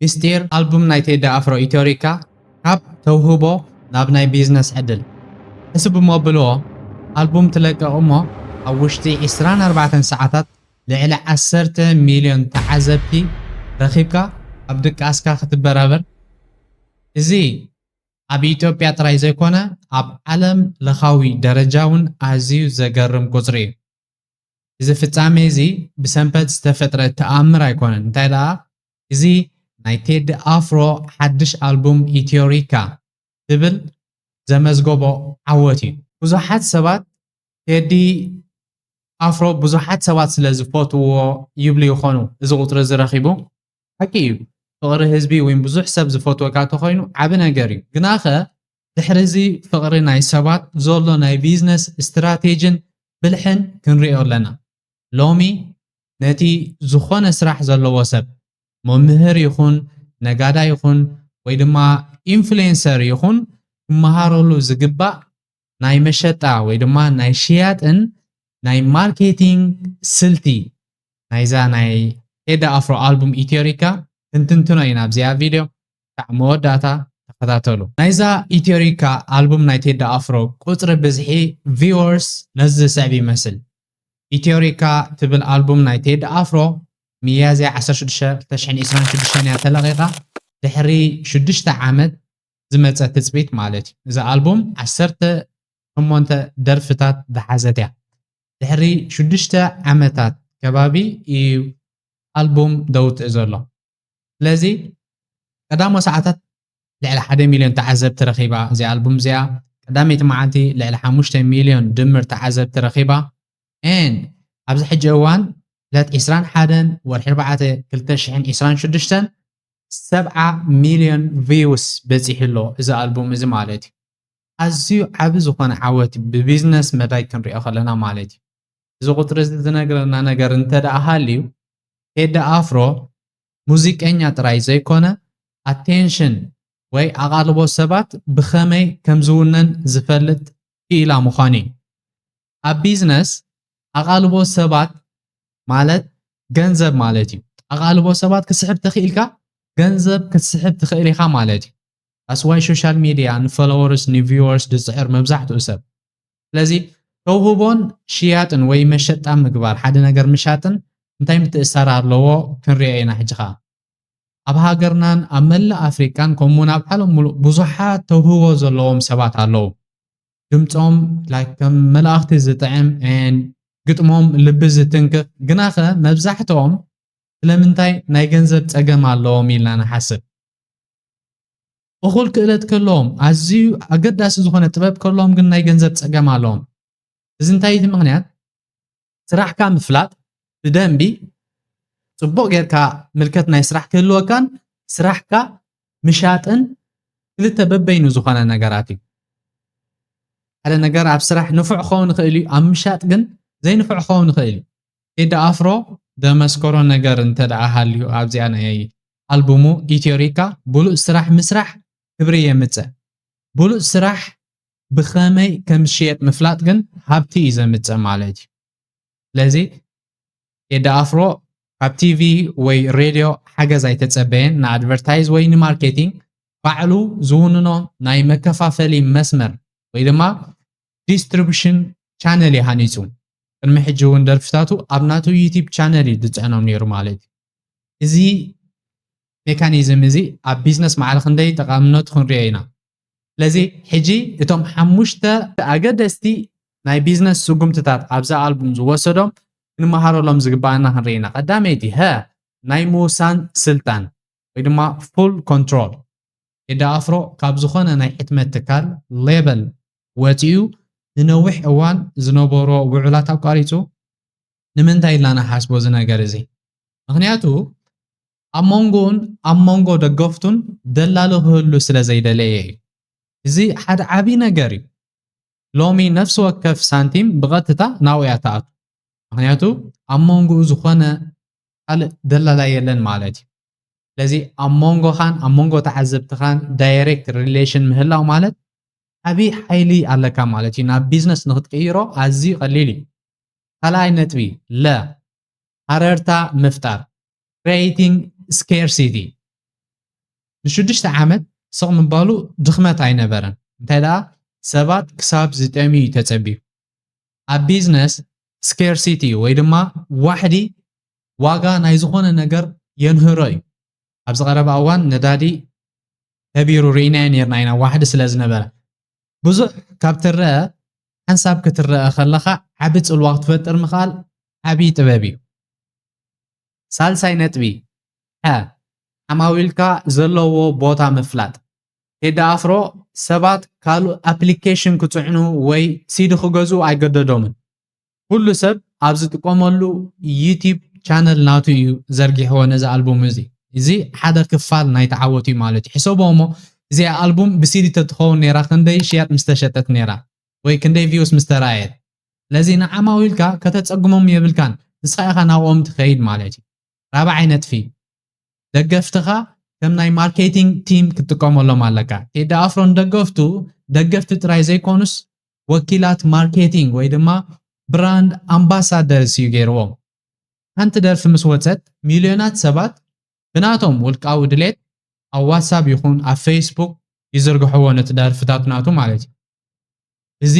ምስጢር ኣልቡም ናይ ቴዲ ኣፍሮ ኢትዮሪካ ካብ ተውህቦ ናብ ናይ ቢዝነስ ዕድል። ሕስብሞ ብልዎ ኣልቡም ትለቅቕ እሞ ኣብ ውሽጢ ዕስራን ኣርባዕተን ሰዓታት ልዕሊ ዓሰርተ ሚልዮን ተዓዘብቲ ረኺብካ ኣብ ድቃስካ ክትበራበር እዚ ኣብ ኢትዮጵያ ጥራይ ዘይኮነ ኣብ ዓለም ለኻዊ ደረጃ ውን ኣዝዩ ዘገርም ቁጽሪ እዩ። እዚ ፍጻሜ እዚ ብሰንበት ዝተፈጥረ ተኣምር ኣይኮነን፣ እንታይ ደኣ እዚ ናይ ቴዲ ኣፍሮ ሓድሽ ኣልቡም ኢትዮሪካ ትብል ዘመዝገቦ ዓወት እዩ። ብዙሓት ሰባት ቴዲ ኣፍሮ ብዙሓት ሰባት ስለ ዝፈትውዎ ይብሉ ይኾኑ እዚ ቁጽሪ እዚ ረኺቡ። ሓቂ እዩ ፍቕሪ ህዝቢ ወይ ብዙሕ ሰብ ዝፈትወካ ተኾይኑ ዓቢ ነገር እዩ፣ ግናኸ ድሕሪ እዚ ፍቕሪ ናይ ሰባት ዞሎ ናይ ቢዝነስ ስትራቴጅን ብልሕን ክንሪኦ ኣለና። ሎሚ ነቲ ዝኾነ ስራሕ ዘለዎ ሰብ መምህር ይኹን ነጋዳይ ይኹን ወይ ድማ ኢንፍሌንሰር ይኹን ክመሃረሉ ዝግባእ ናይ መሸጣ ወይ ድማ ናይ ሽያጥን ናይ ማርኬቲንግ ስልቲ ናይዛ ናይ ቴዲ ኣፍሮ ኣልቡም ኢትዮሪካ ክንትንትኖ ኢና ኣብዚኣ ቪድዮ። ክሳዕ መወዳእታ ተኸታተሉ። ናይዛ ኢትዮሪካ ኣልቡም ናይ ቴዲ ኣፍሮ ቁጽሪ ብዝሒ ቪወርስ ነዚ ዝስዕብ ይመስል። ኢትዮሪካ ትብል ኣልቡም ናይ ቴዲ ኣፍሮ ሚያዝያ ዓሰርተ ሽዱሽተ፣ ክልተ ሽሕን ዒስራን ሽዱሽተን እያ ተለቒቓ፣ ድሕሪ ሽዱሽተ ዓመት ዝመጸ ትጽቢት ማለት እዩ። እዛ ኣልቡም ዓሰርተ ሸሞንተ ደርፍታት ዝሓዘት እያ። ድሕሪ ሽዱሽተ ዓመታት ከባቢ እዩ ኣልቡም ደውትእ ዘሎ። ስለዚ ቀዳሞ ሰዓታት ልዕሊ ሓደ ሚልዮን ተዓዘብቲ ረኺባ እዚኣ ኣልቡም እዚኣ ቀዳመይቲ መዓልቲ ልዕሊ ሓሙሽተ ሚልዮን ድምር ተዓዘብቲ ረኺባ ን ኣብዚ ሕጂ እዋን ዕለት ዕስራን ሓደን ወርሒ ኣርባዕተ ክልተ ሽሕን ዕስራን ሽዱሽተን ሰብዓ ሚልዮን ቪውስ በፂሑ ኣሎ እዚ ኣልቡም እዚ ማለት እዩ ኣዝዩ ዓቢ ዝኾነ ዓወት ብቢዝነስ መዳይ ክንሪኦ ከለና ማለት እዩ እዚ ቁፅሪ እዚ ዝነግረና ነገር እንተደኣ ሃልዩ ቴዲ ኣፍሮ ሙዚቀኛ ጥራይ ዘይኮነ ኣቴንሽን ወይ ኣቓልቦ ሰባት ብኸመይ ከም ዝውነን ዝፈልጥ ክኢላ ምዃኑ እዩ። ኣብ ቢዝነስ ኣቓልቦ ሰባት ማለት ገንዘብ ማለት እዩ። ኣቓልቦ ሰባት ክትስሕብ ተኽኢልካ ገንዘብ ክትስሕብ ትኽእል ኢኻ ማለት እዩ። ኣስዋይ ሶሻል ሚድያ ንፎሎወርስ ንቪወርስ ዝፅዕር መብዛሕትኡ ሰብ ስለዚ ተውህቦን ሽያጥን ወይ መሸጣ ምግባር ሓደ ነገር ምሻጥን እንታይ ምትእስሳር ኣለዎ ክንሪኦ ኢና ሕጂ ኸኣ ኣብ ሃገርናን ኣብ መላእ ኣፍሪቃን ከምኡ እውን ኣብ ዓለም ሙሉእ ብዙሓት ተውህቦ ዘለዎም ሰባት ኣለዉ ድምፆም ላይክ ከም መላእኽቲ ዝጥዕም ን ግጥሞም ልቢ ዝትንክፍ ግናኸ መብዛሕትኦም ስለምንታይ ናይ ገንዘብ ፀገም ኣለዎም ኢልና ንሓስብ እኹል ክእለት ከለዎም ኣዝዩ ኣገዳሲ ዝኾነ ጥበብ ከለዎም ግን ናይ ገንዘብ ፀገም ኣለዎም። እዚ እንታይ እቲ ምክንያት ስራሕካ ምፍላጥ ብደንቢ ፅቡቕ ጌርካ ምልከት ናይ ስራሕ ክህልወካን ስራሕካ ምሻጥን ክልተ በበይኑ ዝኾነ ነገራት እዩ። ሓደ ነገር ኣብ ስራሕ ንፉዕ ክኸውን ይኽእል እዩ፣ ኣብ ምሻጥ ግን ዘይንፉዕ ክኸውን ይኽእል እዩ። ቴዲ ኣፍሮ ዘመስከሮ ነገር እንተ ደኣ ሃልዩ ኣብዚኣ ናይ ኣልቡሙ ኢትዮሪካ ብሉጽ ስራሕ ምስራሕ ክብሪ የምጽእ። ብሉጽ ስራሕ ብኸመይ ከምዝሽየጥ ምፍላጥ ግን ሃብቲ እዩ ዘምጽእ ማለት እዩ። ስለዚ ቴዲ ኣፍሮ ካብ ቲቪ ወይ ሬድዮ ሓገዝ ኣይተጸበየን ንኣድቨርታይዝ ወይ ንማርኬቲንግ ባዕሉ ዝውንኖ ናይ መከፋፈሊ መስመር ወይ ድማ ዲስትሪቡሽን ቻነል እዩ ሃኒጹ። ቅድሚ ሕጂ እውን ደርፍታቱ ኣብ ናቱ ዩቲብ ቻነል እዩ ዝጽዕኖም ነይሩ ማለት እዩ። እዚ ሜካኒዝም እዚ ኣብ ቢዝነስ ማዕረ ክንደይ ጠቓምነቱ ክንሪኦ ኢና። ስለዚ ሕጂ እቶም ሓሙሽተ ኣገደስቲ ናይ ቢዝነስ ስጉምትታት ኣብዛ ኣልቡም ዝወሰዶም ክንመሃረሎም ዝግበኣና ክንርኢ ኢና። ቀዳመይቲ ሀ ናይ ምውሳን ስልጣን ወይ ድማ ፉል ኮንትሮል። ቴዲ ኣፍሮ ካብ ዝኾነ ናይ ሕትመት ትካል፣ ሌበል፣ ወጺኡ ንነዊሕ እዋን ዝነበሮ ውዑላት ኣቋሪጹ፣ ንምንታይ ኢልና ንሓስቦ እዚ ነገር እዚ ምክንያቱ ኣብ መንጎኡን ኣብ መንጎ ደገፍቱን ደላሎ ክህሉ ስለ ዘይደለየ እዩ። እዚ ሓደ ዓብዪ ነገር እዩ። ሎሚ ነፍሲ ወከፍ ሳንቲም ብቐጥታ ናብኡ እያ ትኣቱ። ምክንያቱ ኣብ መንጎኡ ዝኾነ ካልእ ደላላ የለን ማለት እዩ። ስለዚ ኣብ መንጎኻን ኣብ መንጎ ተዓዘብትኻን ዳይሬክት ሪሌሽን ምህላው ማለት ዓብዪ ሓይሊ ኣለካ ማለት እዩ። ናብ ቢዝነስ ንክትቅይሮ ኣዝዩ ቀሊል እዩ። ካልኣይ ነጥቢ ለ ሃረርታ ምፍጣር Creating Scarcity ንሽዱሽተ ዓመት ስቕ ምባሉ ድኽመት ኣይነበረን፣ እንታይ ደኣ ሰባት ክሳብ ዝጠምዩ እዩ ተጸብዩ። ኣብ ቢዝነስ ስኬርሲቲ ወይ ድማ ዋሕዲ ዋጋ ናይ ዝኾነ ነገር የንህሮ እዩ። ኣብዚ ቀረባ እዋን ነዳዲ ከቢሩ ርኢናዮ ነርና ኢና ዋሕዲ ስለ ዝነበረ። ብዙሕ ካብ ትረኣ ሓንሳብ ክትረኣ ከለኻ ዓቢ ጽልዋ ክትፈጥር ምኽኣል ዓቢ ጥበብ እዩ። ሳልሳይ ነጥቢ፣ ሐ፣ ዓማዊልካ ዘለውዎ ቦታ ምፍላጥ። ቴዲ ኣፍሮ ሰባት ካልእ ኣፕሊኬሽን ክጽዕኑ ወይ ሲዲ ክገዝኡ ኣይገደዶምን። ኩሉ ሰብ ኣብ ዝጥቀመሉ ዩቲብ ቻነል ናቱ እዩ ዘርጊሕዎ ነዚ ኣልቡም እዚ እዚ ሓደ ክፋል ናይቲ ዓወት እዩ ማለት እዩ ሕሰቦ እሞ እዚኣ ኣልቡም ብሲዲ ተትኸውን ነይራ ክንደይ ሽያጥ ምስ ተሸጠት ነይራ ወይ ክንደይ ቪውስ ምስ ተራእየት ስለዚ ንዓማዊልካ ከተጸግሞም የብልካን ንስኻ ኢኻ ናብኦም ትኸይድ ማለት እዩ ራብዓይ ነጥፊ፣ ደገፍትኻ ከም ናይ ማርኬቲንግ ቲም ክትጥቀመሎም ኣለካ። ቴዲ ኣፍሮ ንደገፍቱ ደገፍቲ ጥራይ ዘይኮኑስ ወኪላት ማርኬቲንግ ወይ ድማ ብራንድ ኣምባሳደርስ እዩ ገይርዎም። ሓንቲ ደርፊ ምስ ወጸት ሚልዮናት ሰባት ብናቶም ውልቃዊ ድሌት ኣብ ዋትሳብ ይኹን ኣብ ፈይስቡክ ይዝርግሕዎ ነቲ ደርፍታት ናቱ ማለት እዩ። እዚ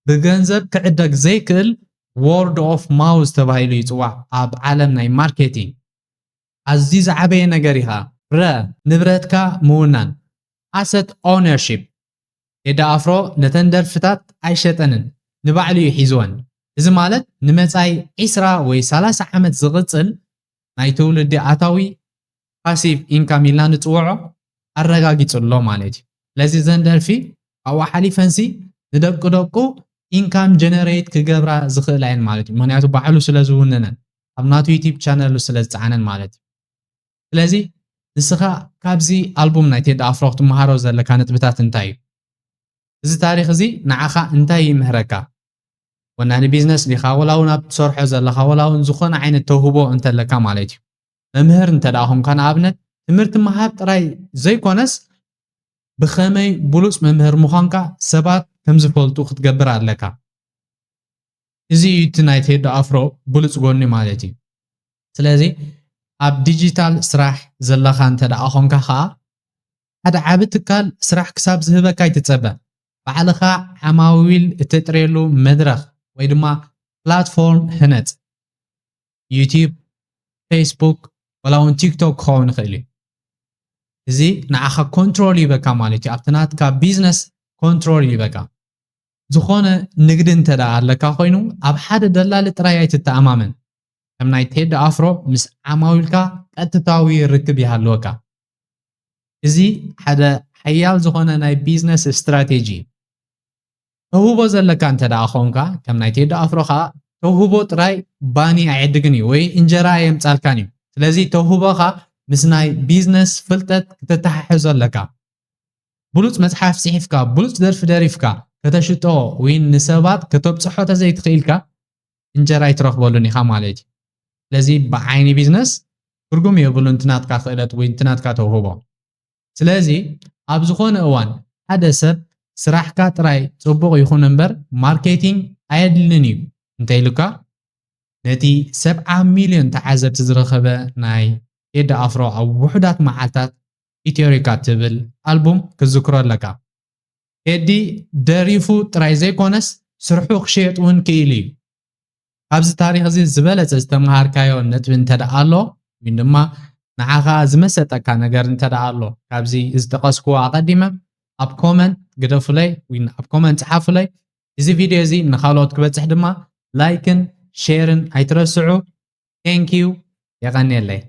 ብገንዘብ ክዕደግ ዘይክእል ዎርድ ኦፍ ማውዝ ተባሂሉ ይፅዋዕ ኣብ ዓለም ናይ ማርኬቲንግ ኣዝዩ ዝዓበየ ነገር እዩ ከዓ ረ ንብረትካ ምውናን ኣሰት ኦውነርሺፕ ቴዲ ኣፍሮ ነተን ደርፍታት ኣይሸጠንን ንባዕሉ እዩ ሒዝወን እዚ ማለት ንመፃኢ ዒስራ ወይ ሰላሳ ዓመት ዝቕፅል ናይ ትውልዲ ኣታዊ ፓሲቭ ኢንካም ኢልና ንፅውዖ ኣረጋጊፁ ኣሎ ማለት እዩ። ስለዚ እዘን ደርፊ ካብኡ ሓሊፈንሲ ንደቂ ደቁ ኢንካም ጀነሬት ክገብራ ዝኽእላ እየን ማለት እዩ። ምክንያቱ ባዕሉ ስለ ዝውንነን ኣብ ናቱ ዩቲብ ቻነሉ ስለ ዝፀዓነን ማለት እዩ። ስለዚ ንስኻ ካብዚ ኣልቡም ናይ ቴዲ ኣፍሮ ክትመሃሮ ዘለካ ነጥብታት እንታይ እዩ? እዚ ታሪኽ እዚ ንዓኻ እንታይ ይምህረካ? ወናኒ ቢዝነስ ዲኻ ወላ እውን ኣብ ትሰርሖ ዘለኻ ወላ እውን ዝኾነ ዓይነት ተውህቦ እንተለካ ማለት እዩ መምህር እንተ ደኣ ኾንካ ንኣብነት ትምህርቲ ምሃብ ጥራይ ዘይኮነስ ብኸመይ ብሉፅ መምህር ምዃንካ ሰባት ከም ዝፈልጡ ክትገብር ኣለካ እዚ እዩ እቲ ናይ ቴዶ ኣፍሮ ብሉፅ ጎኒ ማለት እዩ ስለዚ ኣብ ዲጂታል ስራሕ ዘለኻ እንተ ደኣ ኾንካ ከዓ ሓደ ዓቢ ትካል ስራሕ ክሳብ ዝህበካ ኣይትፀበ ባዕልኻ ዓማዊል እተጥርየሉ መድረኽ ወይ ድማ ፕላትፎርም ህነፅ። ዩቲዩብ፣ ፌስቡክ ዋላ እውን ቲክቶክ ክኸውን ይኽእል እዩ። እዚ ንዓኻ ኮንትሮል ይበካ ማለት እዩ ኣብቲ ናትካ ቢዝነስ ኮንትሮል ይበካ ዝኾነ ንግዲ እንተ ኣለካ ኮይኑ ኣብ ሓደ ደላሊ ጥራይ ኣይትተኣማመን ከም ናይ ቴዲ ኣፍሮ ምስ ዓማዊልካ ቀጥታዊ ርክብ ይሃልወካ እዚ ሓደ ሓያል ዝኾነ ናይ ቢዝነስ ስትራቴጂ እዩ። ተውህቦ ዘለካ እንተ ደኣ ኾንካ ከም ናይ ቴዲ ኣፍሮ ከዓ ተውህቦ ጥራይ ባኒ ኣይዕድግን እዩ ወይ እንጀራ ኣየምጻልካን እዩ። ስለዚ ተውህቦኻ ምስ ናይ ቢዝነስ ፍልጠት ክተተሓሕዞ ኣለካ። ብሉጽ መጽሓፍ ጽሒፍካ፣ ብሉጽ ደርፊ ደሪፍካ ከተሽጦ ወይ ንሰባት ከተብጽሖ ተዘይትኽኢልካ እንጀራ ኣይትረኽበሉን ኢኻ ማለት እዩ። ስለዚ ብዓይኒ ቢዝነስ ትርጉም የብሉን እቲ ናትካ ክእለት ወይ እቲ ናትካ ተውህቦ። ስለዚ ኣብ ዝኾነ እዋን ሓደ ሰብ ስራሕካ ጥራይ ጽቡቕ ይኹን እምበር ማርኬቲንግ ኣየድልን እዩ እንተኢሉካ ነቲ ሰብዓ ሚልዮን ተዓዘብቲ ዝረኸበ ናይ ቴዲ ኣፍሮ ኣብ ውሑዳት መዓልታት ኢትዮሪካ ትብል ኣልቡም ክትዝክሮ ኣለካ ቴዲ ደሪፉ ጥራይ ዘይኮነስ ስርሑ ክሽየጥ ውን ክኢሉ እዩ ካብዚ ታሪኽ እዚ ዝበለጸ ዝተመሃርካዮ ነጥቢ እንተደኣ ኣሎ ወይ ድማ ንዓኻ ዝመሰጠካ ነገር እንተደኣ ኣሎ ካብዚ ዝጠቀስክዎ ኣቀዲመ ኣብ ኮመንት ግደፉለይ ወይ ኣብ ኮመንት ጽሓፉለይ እዚ ቪድዮ እዚ ንኻልኦት ክበጽሕ ድማ ላይክን ሼርን ኣይትረስዑ ቴንኪዩ የቀኔለይ